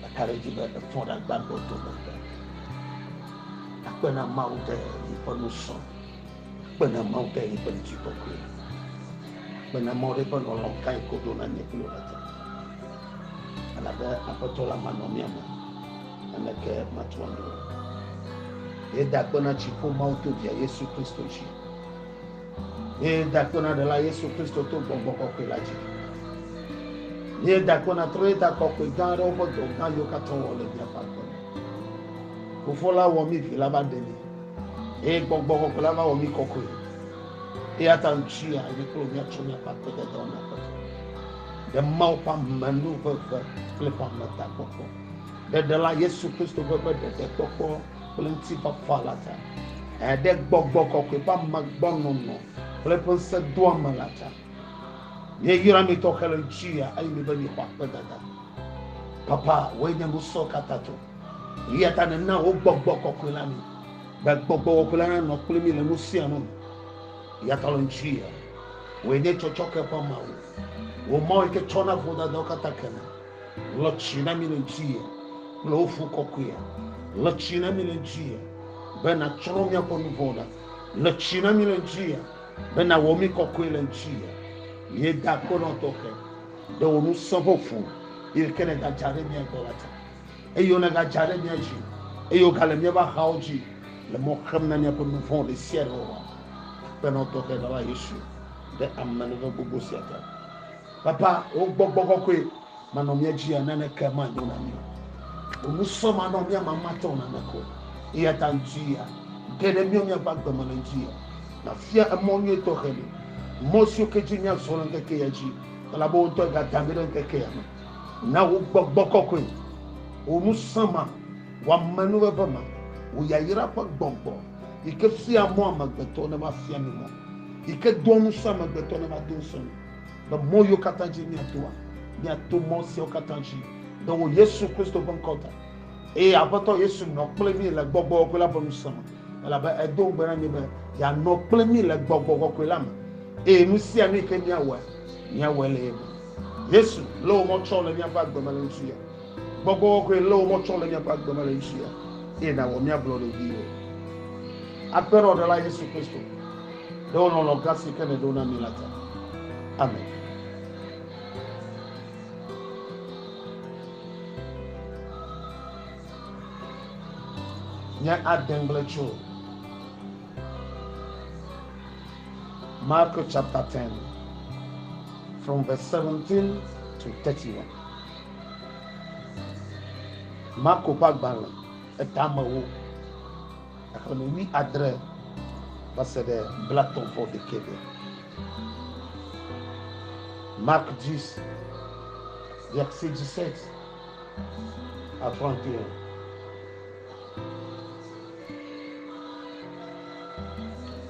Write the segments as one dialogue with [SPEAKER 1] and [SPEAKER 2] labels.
[SPEAKER 1] Meka ɖe edzi be efɔ ɖe agba gbɔ dome be akpe na Mawu ɖe yeƒe nusrɔ̃, akpe na Mawu ɖe yeƒe ŋutikɔkɔe, akpe na Mawu ɖe yeƒe lɔlɔ̃ gã yi kodo na nye kple wò ɖe Elabe Aƒetɔ la manɔ mía me, naneke matu anyi o. Yeda akpe na dziƒo Mawu to via Yesu Kristo dzi. Míeda akpe na Ɖela Yesu Kristo to gbɔgbɔ kɔkɔe la dzi. Míeda akpe na trɔ̃yeta kɔkɔe gã aɖewo ƒe dɔ gã yiwo katã wowɔ le míaƒe agbe me. Fofo la wɔ mí Vi la va ɖe mí eye gbɔgbɔ kɔkɔe la va wɔ mí kɔkɔe. Eya ta ŋutia mí kple míatsɔ míaƒe akpedede wɔna ƒe fe ɖe Mawu ƒe amenuʋeʋẽ kple ƒe ametakpɔkpɔ ɖe Ɖela Yesu Kristo ƒe ƒe ɖeɖekpɔkpɔ kple ŋutifafa la ta, eɖe gbɔgbɔ kɔkɔe ƒe amegbɔnɔnɔ kple eƒe ŋusẽdoame la ta. Míeyra mi tɔxɛ le ŋutia eye míebe mixɔ akpedada. Papa, wòe nye nusɔ katã tɔ. Eya ta nèna wò gbɔgbɔ kɔkɔe la mi, be gbɔgbɔ kɔkɔe la nanɔ kple mi le nu sia nu me. Eya ta le ŋutia, wòe nye tsɔtsɔke ƒe Mawu, wò Mawu yi ke tsɔna vodadawo katã kena. Le tsi na mi le ŋuti kple wo fu kɔkɔe. Le tsi na mi le ŋuti be nàtsrɔ̃ míaƒe nu vɔ̃ ɖa. Le tsi na mi le ŋuti be nàwɔ mi kɔkɔe le ŋuti. Míeda akpe nɔ tɔxɛ ɖe wò ŋusẽ ƒe ŋu yi ke nègadza ɖe mía gbɔ la ta. Eye wonègadza ɖe mía dzi eye wogale míaƒe axawo dzi le mɔ xem na míaƒe nu vɔ̃ ɖe sia ɖe wɔwɔ. Akpe nɔ tɔxɛ Ɖela Yesu ɖe amenuveve gbogbo sia ta. Papa, wò gbɔgbɔ kɔkɔe manɔ mía dzia, naneke manyo na mí o. Wò nusɔ manɔ mía mamatɔ naneke o. Eyata ŋutia, ge ɖe míawo míaƒe agbe me le ŋutia, nàfia emɔ nyui tɔxɛ mí, mɔ siwo ke dzi míazɔ le ŋkeke ya dzi, elabe wò ŋutɔ ègada mí ɖe ŋkeke ya me. Na wò gbɔgbɔ kɔkɔe, wò ŋusẽ ma, wò amenuveve ma, wò yayra ƒe gbɔgbɔ, yi ke fiaa mɔ amegbetɔ ne va fia mí mɔ, yi ke doa ŋusẽ amegbetɔ ne va do ŋusẽ mí. le mɔ yiwo katã dzi míatoa. Míato mɔ siawo katã dzi le wò Yesu Kristo ƒe ŋkɔ ta. Eye Aƒetɔ Yesu nɔ kple mí le gbɔgbɔ kɔkɔe la ƒe ŋusẽ me, elabe edo ŋugbe na mí be yeanɔ kple mí le gbɔgbɔ kɔkɔe la me, eye nu sia nu yi ke míawɔa, míawɔe le ye me. Yesu, lé wò mɔ tsɔ le míaƒe agbe me le ŋutsuya. Gbɔgbɔ kɔkɔe, lé wò mɔ tsɔ le míaƒe agbe me le ŋutsuya, eye nàwɔ mía ablɔɖeviwo. Aƒenɔɖela Yesu Kristo, ɖe wò lɔlɔ̃ gã si ke nèɖo na mí la ta. Amen. Nye adegble tso Mark chapter 10 from verse 17 to 31. Marko ƒe agbalẽ etamewo. Xexlẽme wui adre va se ɖe blatɔ̃ vɔ ɖekɛ me. Marc 10, verset 17 à 31.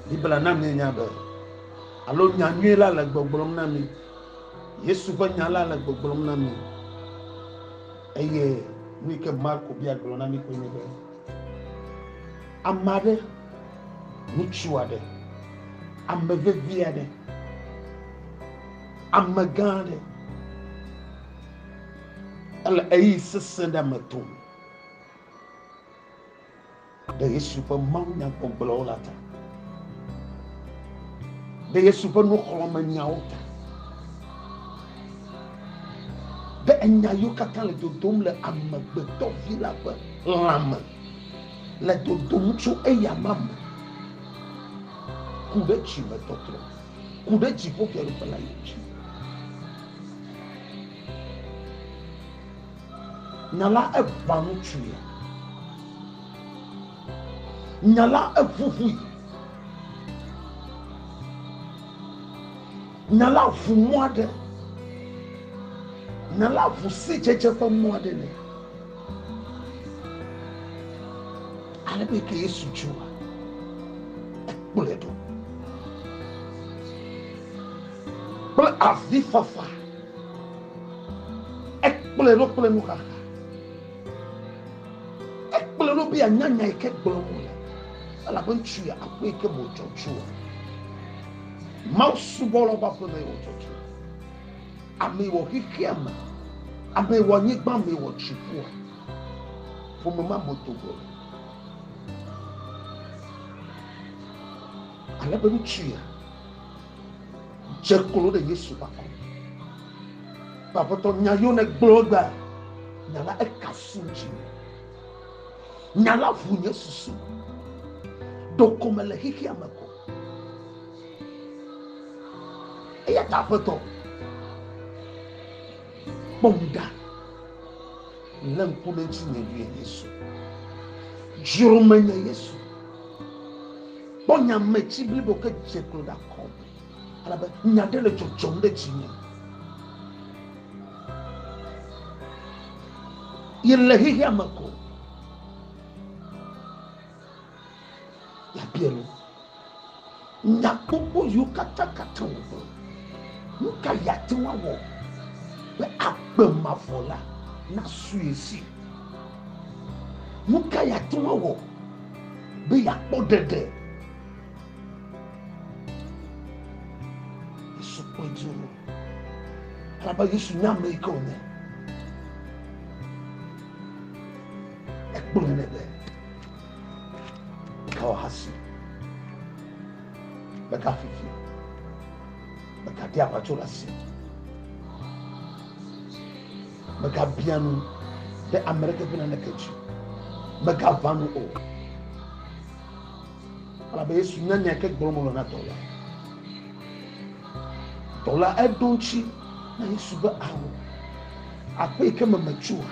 [SPEAKER 1] Biblia na míenya be, alo nya nyui la le gbɔgblɔm na mí. Yesu ƒe nya la le gbɔgblɔm na mí. Eye nu yi ke Marco bia gblɔ na mí koe nye be, Ame aɖe, ŋutsu aɖe, ame vevi aɖe, ame gã aɖe ele eyi sesẽ ɖe me tom ɖe Yesu ƒe mawunyagbɔgblɔwo la ta, ɖe Yesu ƒe nuxlɔ̃menyawo ta. be enya yiwo katã le dodom le Amegbetɔ Vi la ƒe lãme le dodom tso eya ma me ku ɖe dzimetɔtrɔ, ku ɖe dziƒofiaɖuƒe la dzi. Nya la eʋã nu tsuea? Nya la eʋuʋui? Nya la ʋu mɔ aɖe. Nya la ʋu sidzedze ƒe mɔ aɖe nɛ. Ale be ke Yesu dzua, ekplɔe ɖo kple avifafa. Ekplɔe ɖo kple nuxaxa. Ekplɔe ɖo be yeanya nya yi ke gblɔm wòle, elabe ŋutsu ya akpɔe yi ke mo dzɔdzɔa. Mawu subɔlawo ƒe aƒeme wɔ dzɔdzɔe. Ame wɔ xexea me. Ame wɔ anyigba, ame wɔ dziƒoa. Ƒome ma me do gɔme. Ale be ŋutsu ya dze klo ɖe Yesu ƒe akɔme. Aƒetɔ nya yewo ne gblɔ gba. Nya la ekafu dzi. Nya la ʋu nye susu. Ɖeko mele xexea me ko. eya ta aƒetɔ kpɔm ɖa le ŋku ɖe ŋuti nye vie yesu dzro me nye yesu kpɔ nya me tsi blibo ke dze klo ɖe akɔ me alabe nya ɖe le dzɔdzɔm ɖe tsi nye yele xexea me ko Yabia nu, Nya gbogbo yiwo katakata wògblɔ, nu ka yeate ŋu awɔ be agbe mavɔ la nasu ye si? Nu ka yeate ŋu awɔ be yeakpɔ ɖeɖe? Yesu kpɔe dzi o. Elabe Yesu nya ame yi ke wònye. Ekpɔe nɛ be meka ahasi, meka fifi, meka ɖi aʋatso ɖe asi, meka bia nu ɖe ame ɖeke ƒe naneke dzi, meka va nu o. Elabe Yesu nya nya yi ke gblɔm wòle na dɔwɔla. Dɔla eɖo ŋutsi na Yesu be, Ao, aƒe yi ke me metsoa,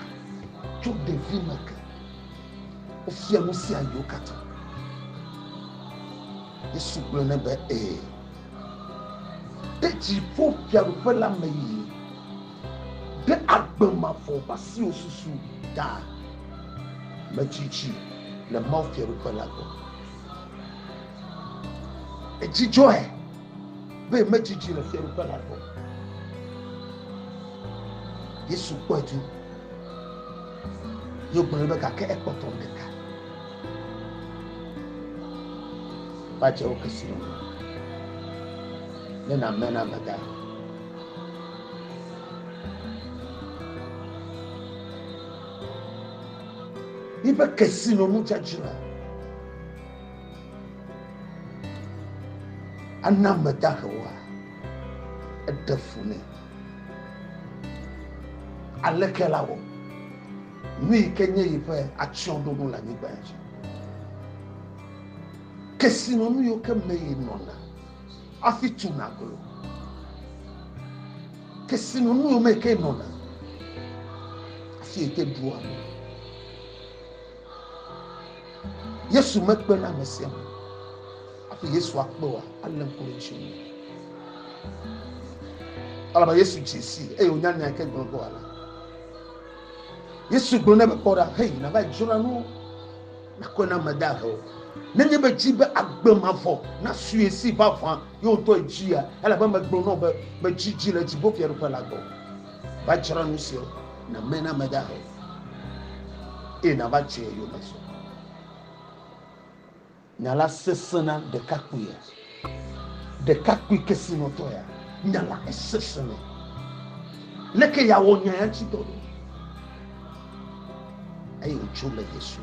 [SPEAKER 1] tso ɖevi me ke wofia nu sia yiwo katã. Yesu gblɔ nɛ be, Ẽ, ɖe dziƒofiaɖuƒe la me yi ɖe agbe mavɔ ƒe asiwo susu ta metsitsi le mawufiaɖuƒe la gbɔ. Edzidzɔe. be metsi dzi le fiaɖuƒe la gbɔ. Yesu kpɔe tu. Yo gblɔ be gake ekpɔtɔ ɖeka. Bàtsewo kesi nɔ me. Ne na me na me da. Ibe kesi nɔ nu dzadzi la. Ana ame dahe woa eɖe fu nɛ. Aleke la wɔ? Nu yi ke nye yi ƒe atsyɔ̃ɖonu le anyigba dzi. Kesinɔnu yiwo ke me yi nɔna hafi tuna aglo. Kesinɔnu yiwo me ke nɔna hafi yi ke ɖua nu. Yesu mekpe na ame sia ame. Hafi Yesu akpe wa, alé ŋku ɖe ŋuti. Alaba Yesu dze si eye wònya nya yi ke gblɔ ge wòala. Yesu gblɔ nɛ be kpɔ ɖa, hei, nàva dzra nu, nàkɔe na ame dahe o. Nenye be dzi be agbe mavɔ nasue si vavã ye wòtɔe dzia, elabe megblɔ na wò be, medzi dzi le dziƒofiaɖuƒe la gbɔ. va dzra nu siwo name na ame dahe eye nava tso ye yome zɔ. Nya la sesẽ na ɖekakpui ya, ɖekakpui kesinɔtɔ ya. Nya la esesẽ nɛ. Leke yeawɔ nya ya ŋuti dɔ ɖo? Eye wòtso le Yesu.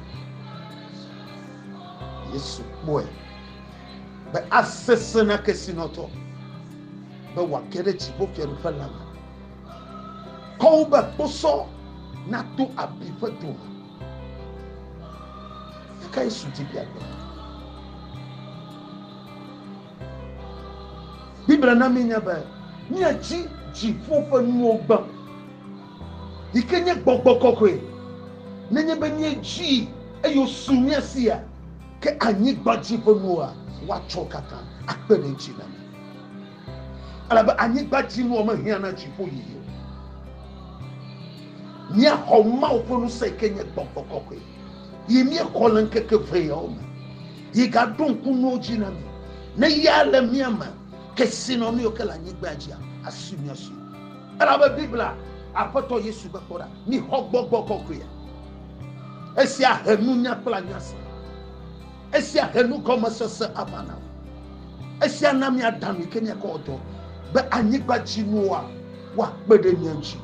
[SPEAKER 1] Yesu kpɔe be asesẽ na kesinɔtɔ. be wòage ɖe dziƒofiaɖuƒe la me. Kɔ wo be kposɔ nato abi ƒe dome. Eka Yesu di be agbe. Biblia na míenya be míadzi dziƒo ƒe nuwo gbã, yi ke nye gbɔgbɔ kɔkɔe. Nenye be míedzii eye wosu mía sia, ke anyigba dzi ƒe nuwoa, woatsɔ katã akpe ɖe edzi na mí. Elabe anyigba dzi nua mehiã na dziƒo yiyi o. Míaxɔ Mawu ƒe ŋusẽ yi ke nye gbɔgbɔ kɔkɔe, yi míexɔ le ŋkeke ʋɛ yawo me. Yi gaɖo ŋku nuwo dzi na mí. Ne ya le mía me, kesinɔnuwo ke le anyigba dzia, asui míasui. Elabe Biblia, Aƒetɔ Yesu be, Kpɔ ɖa, mixɔ gbɔgbɔ kɔkɔea. Esia he nunya kple anya se. Esia he nugɔmesese aʋa na wò. Esia na miada nu yi ke miakɔ wɔ dɔ be anyigba dzi nuwoa woakpe ɖe mia ŋuti.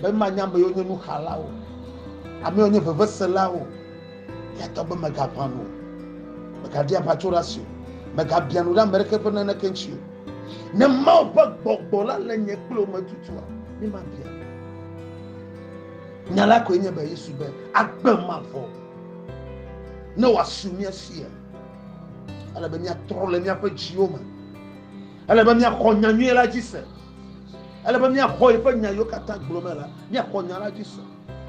[SPEAKER 1] Be manya ame yiwo nye nuxalawo, ame yiwo nye veveselawo. Eya ta be megaʋã nu o, megaɖi aʋatsoɖase o, megabiã nu ɖe ame aɖeke ƒe naneke ŋuti o. Ne Mawu ƒe gbɔgbɔ la le nye kple wò me tutua, mi mabiã nu. Nya la koe nye be Yesu be agbe mavɔ. ne wòasu mía sia ele be míatrɔ le míaƒe dziwo me ele be míaxɔ nya nyui la dzi se ele be míaxɔ yeƒe nya yiwo katã gblɔ me la míaxɔ nya la dzi se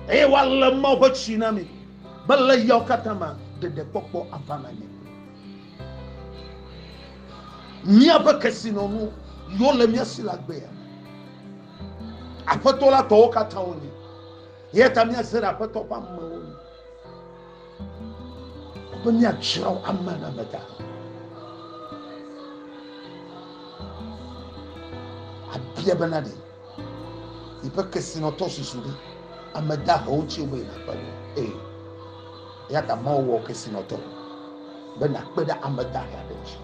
[SPEAKER 1] eye woalé mawo ƒe tsi na mi be le yawo katã ma ɖeɖekpɔkpɔ ava na mi míaƒe kesinɔnu yiwo le mía si la gbea aƒetɔ la tɔwo katã wonye Ye ta míase ɖe Aƒetɔ ƒe amewo nu be míadzra wo ame na ame da. Abia bena ɖe yiƒe kesinɔtɔ susu ɖe ame da hewo tsi wobe nakpe ɖe ee. Ya ta Mawu wɔ kesinɔtɔ be nakpe ɖe ame da he aɖe tsi.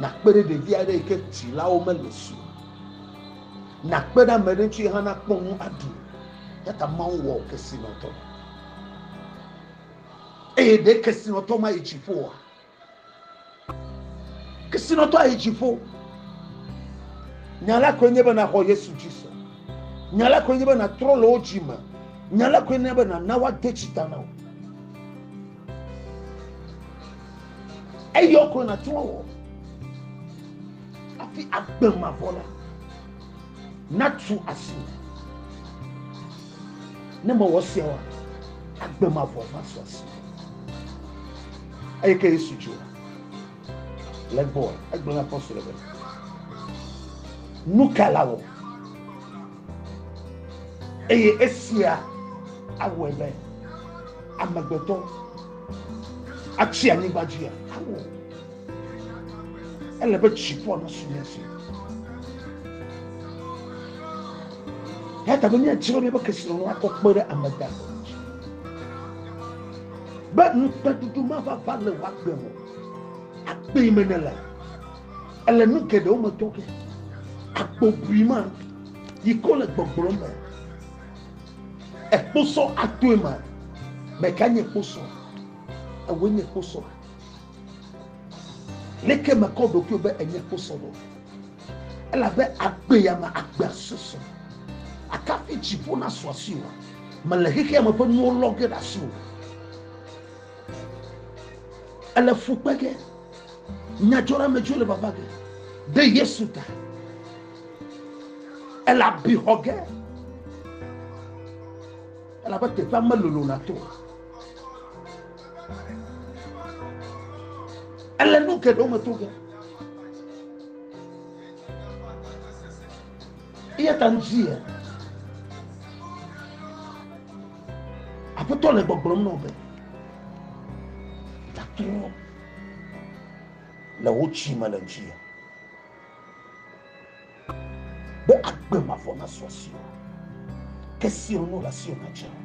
[SPEAKER 1] Nakpe ɖe ɖevi aɖe yi ke tsilawo mele si o. Nàkpe ɖe ame ɖe ŋuti ye hã nakpɔ nu aɖu. Eya ta Mawu wɔ kesinɔtɔ. Eye ɖe kesinɔtɔ mayi dziƒo oa? Kesinɔtɔ ayi dziƒo. Nya la koe nye be nàxɔ Yesu dzi se. Nya la koe nye be nàtrɔ le wo dzi me. Nya la koe nye be nàna woade dzi ta na wò. Eyɔ kɔ na tún wɔ. Afi agbe ma vɔ la. Na tu asi. Ne me wɔ sia wa. Agbe ma vɔ ma tu asi. Eye ke Yesu dzi wa. Le gbɔ. Egblɔ na apostol be. Nuka la wɔ. Eye esia awɔe be amegbetɔ atsi anyigba dzia? Awɔ. Ele be dziƒoa nasu mía si. Eya ta be míadi be míaƒe kesinɔnu akɔ kpe ɖe ame da be ŋukpeɖuɖu mava va le wòagbe o. Akpee me nele. Ele nu geɖewo me tɔ ke. Agbobui ma yi ko le gbɔgblɔ me. Ekposɔ atoe ma. Meka nye kposɔ. Ewe nye kposɔ. Leke mekɔ ɖokui be enye kposɔ ɖo. Elabe agbe ya me agbea susu. Akafi dziƒo na suasuiwa. Mele xexea me ƒe nuwo lɔ ge ɖe asiwò. Ele fu kpe ge, nyadzɔɖeamedzroe le vava ge ɖe Yesu ta. Ele abi xɔ ge, elabe teƒea melolo na to. Ele nu geɖewo me to ge. Eya ta ŋuti ya. Aƒetɔ le gbɔgblɔm na wò be, Gatrɔ le wò tsi me le ŋuti be agbe mavɔ nasu asiwò, ke siwo nu le asiwò nadze o.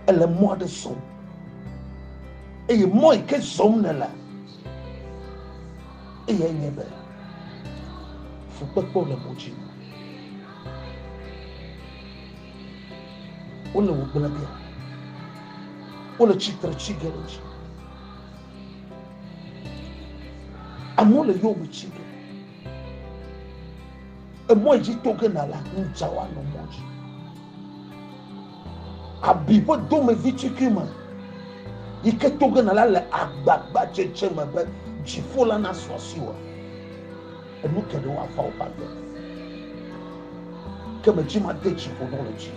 [SPEAKER 1] Èle mɔ aɖe zɔm eye mɔ yi ke zɔm nèle eye nye be fukpekpewo le mɔ dzi. wole wò gblẽ biam wole tsitre tsi ge ɖe dzi amewo le yewo me tsi ge emɔ yi dzi to ge na la ŋdza wa nɔ mɔ dzi abi ƒe domevi tsikui me yi ke to ge na la le agbagba dzedze me be dziƒo la nasɔ si wɔ. Enu ke ɖewo afa woƒe agbe, ke me dzi made tsi ƒo ɖo le dzi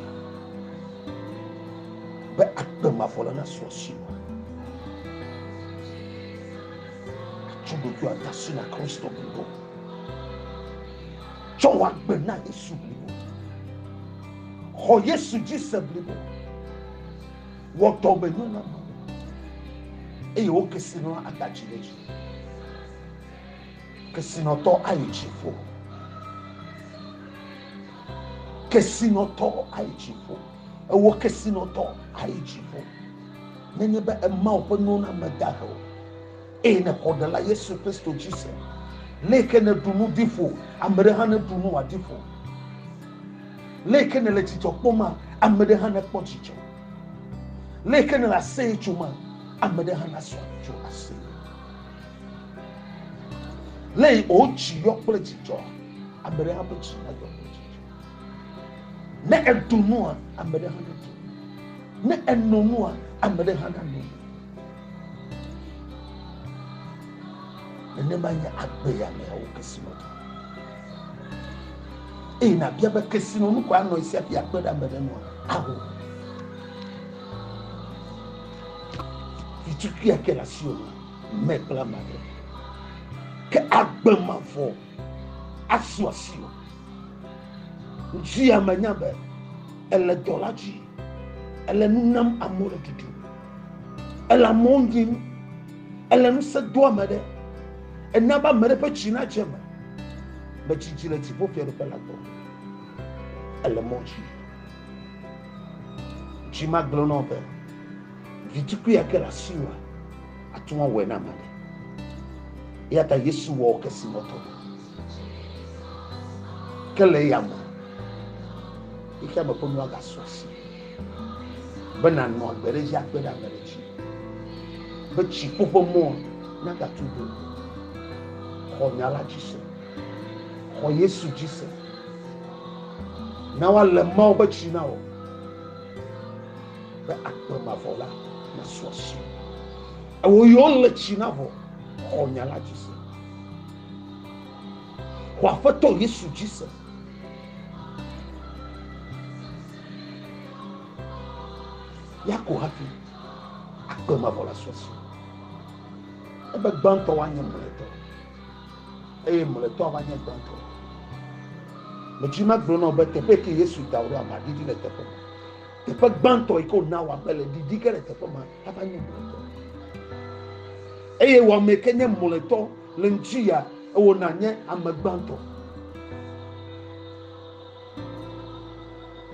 [SPEAKER 1] be agbe mavɔ la nasu asi o. Tsɔ ɖokui ada asi na Kristo blibo. Tsɔ wò agbe na Yesu blibo. Xɔ Yesu dzi se blibo. Wɔ dɔmenyo na Mawu eye wo kesinɔla ada dzi ɖe dzi. Kesinɔtɔ ayi dziƒo. Kesinɔtɔ ayi dziƒo. Ewɔ kesinɔtɔ ayi dziƒo. Nenye be ema woƒe nuwo na meda he o. Eye nèxɔ ɖe la Yesu Kristo dzi se. Le ke nèɖu nu ɖi ƒo, ame ɖe hã neɖu nu wòaɖi ƒo. Le ke nèle dzidzɔ kpɔm ma, ame ɖe hã nekpɔ dzidzɔ. Le ke nèle aseye tso ma, ame ɖe hã nasɔ tso aseye. Le yi o dzi yɔ kple dzidzɔ. Ame ɖe ƒe dzi na yɔ kple dzidzɔ. Ne eɖu nua, ame ɖe hã ne ɖu. Ne eno nua, ame ɖe hã na no. Nenema nye agbe ya me awo kesi me ɖu. Eye na bia be kesi no nukua nɔ esi afi akpe ɖe ame ɖe nua. Aho. Vitukui ake la si o. me kple ame aɖe ke agbe mavɔ asu asi o ŋuti ya menya be ele dɔ la dzi ele nu nam amewo le ɖuɖu ele amewo nyim ele ŋusẽ do ame ɖe ena be ame ɖe ƒe dzi na dze me me dzi dzi le dziƒo fiaɖuƒe la gbɔ ele mɔ dzi dzi magblẽ nɔ be Vitukui ake le asiwòa, àte ŋu awɔe na ame aɖe. Eya ta Yesu wɔ kesinɔtɔ ɖe. Ke le eya me, xexea me ƒe nua gasɔ asi be nànɔ agbe ɖe edzi akpe ɖe ame ɖe dzi, be dziƒo ƒe mɔ nagatu ɖo. Xɔ nya la dzi se. Xɔ Yesu dzi se. Na woalé Mawu ƒe tsi na wò. be akpe mavɔ la nasu asi. Ewɔ yɔ le tsi na vɔ xɔ nya la dzi se. Xɔ aƒetɔ Yesu dzi se. Ya ko hafi akpe mavɔ la su asi. Ebe gbãtɔ woanye mlɔetɔ eye mlɔetɔ ava nye gbãtɔ. Medzina gblɔ na be teƒe ke Yesu da wo ɖo ava ɖiɖi le teƒe ma. Teƒe gbãtɔ yi ke wòna wɔ abe le ɖiɖi ge le teƒe ma ava nye mlɔetɔ. Eye wɔame yi ke nye mlɔetɔ le ŋuti ya ewɔna nye ame gbãtɔ.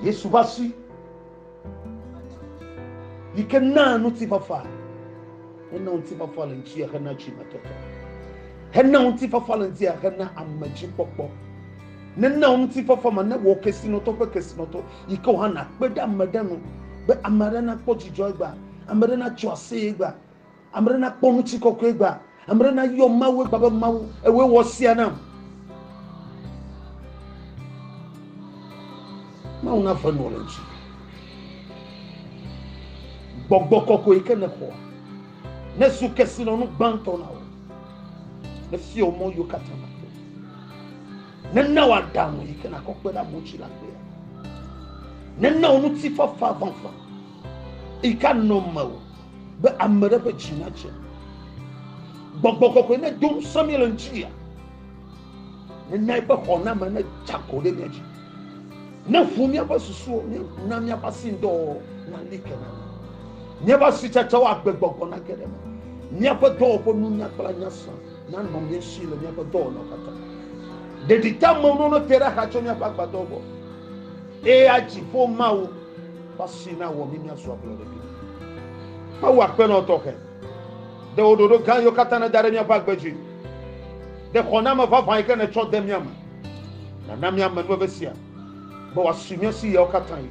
[SPEAKER 1] Yesu ƒe asi yi ke naa ŋutifafa hena ŋutifafa le ŋuti ya hena dzimetɔtɔ hena ŋutifafa le ŋuti ya hena amedzikpɔkpɔ nena ŋutifafa ma ne wɔ kesinɔtɔ ƒe kesinɔtɔ yi ke wòhã nàkpe ɖe ame ɖe nu be ame aɖe nakpɔ dzidzɔ egbea, ame aɖe natso aseye egbea, ame aɖe nakpɔ ŋutikɔkɔe egbea, ame aɖe nayɔ Mawu egbea be Mawu, ewɔe wɔ sia nam. Mawu naƒe nu le ŋuti. Gbɔgbɔ kɔkɔe yi ke nèxɔ nezu kesinɔnu gbãtɔ na wò. Nefiɔ mɔ yiwo katã nàto. Nena wò aɖaŋu yi ke nàkɔ kpe ɖe amewo ŋuti la kpea. Nena wò ŋutifafa vavã yi ke anɔ mewò be ame ɖe ƒe dzi nadze. Gbɔgbɔ kɔkɔe nedo ŋusẽ mí le ŋutia. Nena eƒe xɔname nedze agɔ ɖe mía dzi. Neʋu míaƒe susuwo, na míaƒe asindɔwɔwɔ nali ke na mí. Míaƒe asitsatsawo agbe gbɔgbɔ nage ɖe eme. Míaƒe dɔwɔƒe nunya kple anya sã. nanɔ mía si le míaƒe dɔwɔna katã. Ɖeɖi ta me nɔnɔ te ɖe axa tso míaƒe agbadɔ gbɔ. Eye adziƒo Mawu ƒe asi na wɔ mí míazu ablɔɖe ɖi. Mawu akpenɔ tɔxɛ. Ɖe wò ɖoɖo gã yiwo katã nèda ɖe míaƒe agbe dzi. Ɖe xɔname vavã yi ke nètsɔ de mía me. Nàna míame nu veve sia be wòasi mía si ɣeawo katã ɣi.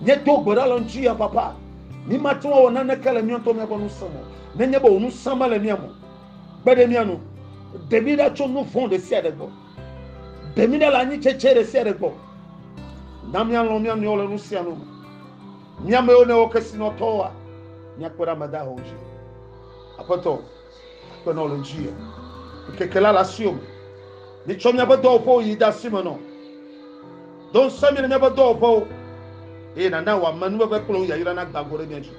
[SPEAKER 1] Míedo gbe ɖa le ŋuti ya, Papa. Mi mate ŋu awɔ naneke le mía ŋutɔ míaƒe ŋusẽ me. Nenye be wò ŋusẽ mele mía me o. Kpe ɖe mía nu. Ɖe mí ɖa tso nu vɔ̃ ɖe sia ɖe gbɔ. Ɖe mí ɖa le anyitsetse ɖe sia ɖe gbɔ. Na míalɔ̃ mía nɔewo le nu sia nu me. Mía amewo nèwɔ kesinɔtɔwoa, míakpe ɖe ame dahewo dzi. Aƒetɔ, Akpenɔ le ŋuti ye. Ŋkeke la le asiwò me. Mitsɔ míaƒe dɔwɔƒewo yi de asi me nɔ. Do ŋusẽ mí le míaƒe dɔwɔƒewo eye nàna wò amenuveve kple wò yayra nagbã go ɖe mía dzi.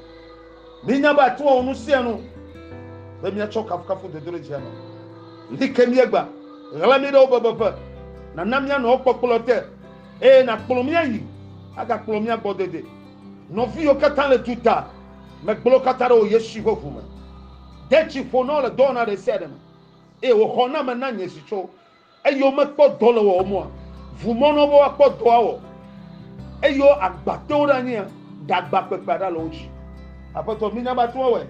[SPEAKER 1] Mínya be àte ŋu awɔ nu sia nu be míatsɔ kafukafu dodoɖedzia nɔ. Li ke míegbã. Ɣla mí ɖe wò bebeƒe. Nàna míanɔ wò kpɔkplɔ te eye nàkplɔ mí ayi agakplɔ mía gbɔ dede nɔviwo katã le duta. Megblɔ katã ɖe wò Yesu ƒe ʋu me. De tsi ƒo na wo le dɔwɔna ɖe sia ɖe me, eye wò xɔname na nye zi tso, eye womekpɔ dɔ le wɔwòm oa? Ʋu mɔ na wo be woakpɔ dɔa wɔ, eye wo agba te wo ɖe anyia, ɖagba kpekpea ɖa le wo dzi. Aƒetɔ, minya be ate ŋu awɔe,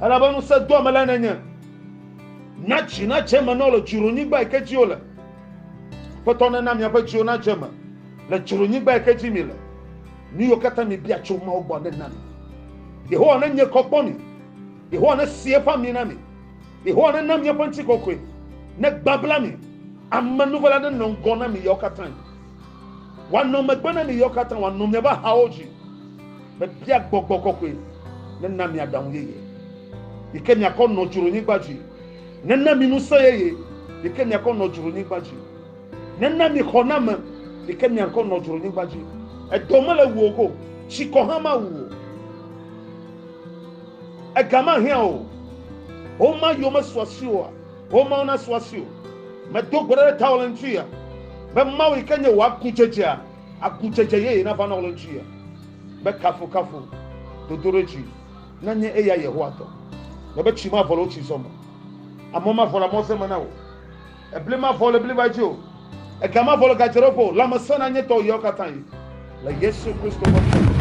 [SPEAKER 1] elabe ŋusẽ doa me lae nènye. Na dzi nadze eme na wo le dzronyigba yi ke dzi wole. Aƒetɔ, nena miaƒe dziwo nadze eme le dzronyigba yi ke dzi mile. Nu yiwo katã miebia tso Mawu gbɔ nena mi. Yehowa nenye kɔ kpɔ mi. Yehowa nesi eƒe ami na mi. Yehowa nena mi eƒe ŋutikɔkɔe. Negbabla mi. Amenuvela nenɔ ŋgɔ na mi ɣeawo katã. Wòanɔ megbe na mi ɣeawo katã. Wòanɔ miaƒe axawo dzi. Mebia gbɔgbɔ kɔkɔe nena mi aɖaŋu yeye yi ke miakɔ nɔ dzronyigba dzi. Nena mi ŋusẽ yeye yi ke miakɔ nɔ dzronyigba dzi. Nena mi xɔname yi ke miankɔ nɔ dzronyigba dzi. Edɔ mele wuo go, tsikɔ hã mawu o. Ega mahiã o. Homa yiwo mesu asi oa, homawo nasu asi o. Medo gbe ɖa ɖe tawò le ŋuti ya be Mawu yi ke nye wò agudzedzea, agudzedze yeye nava nɔ wò le ŋuti ya. Be kafukafu, dodoɖedzi nanye eya Yehowa tɔ. Mebe tsi mavɔ le wò tsizɔ me. Amɔ mavɔ le amɔze me na wò. Ebli mavɔ le bliba dzi o. Ega mavɔ le gadzeɖoƒe o. Lãmesẽ nanye tɔwò yawo katã yi. Le Yesu Kristo ƒe ŋkɔ me.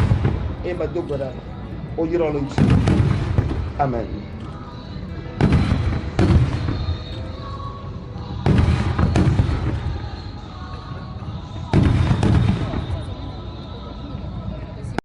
[SPEAKER 1] Eye medo gbe ɖa. Woyrɔ le ŋuti. Amen.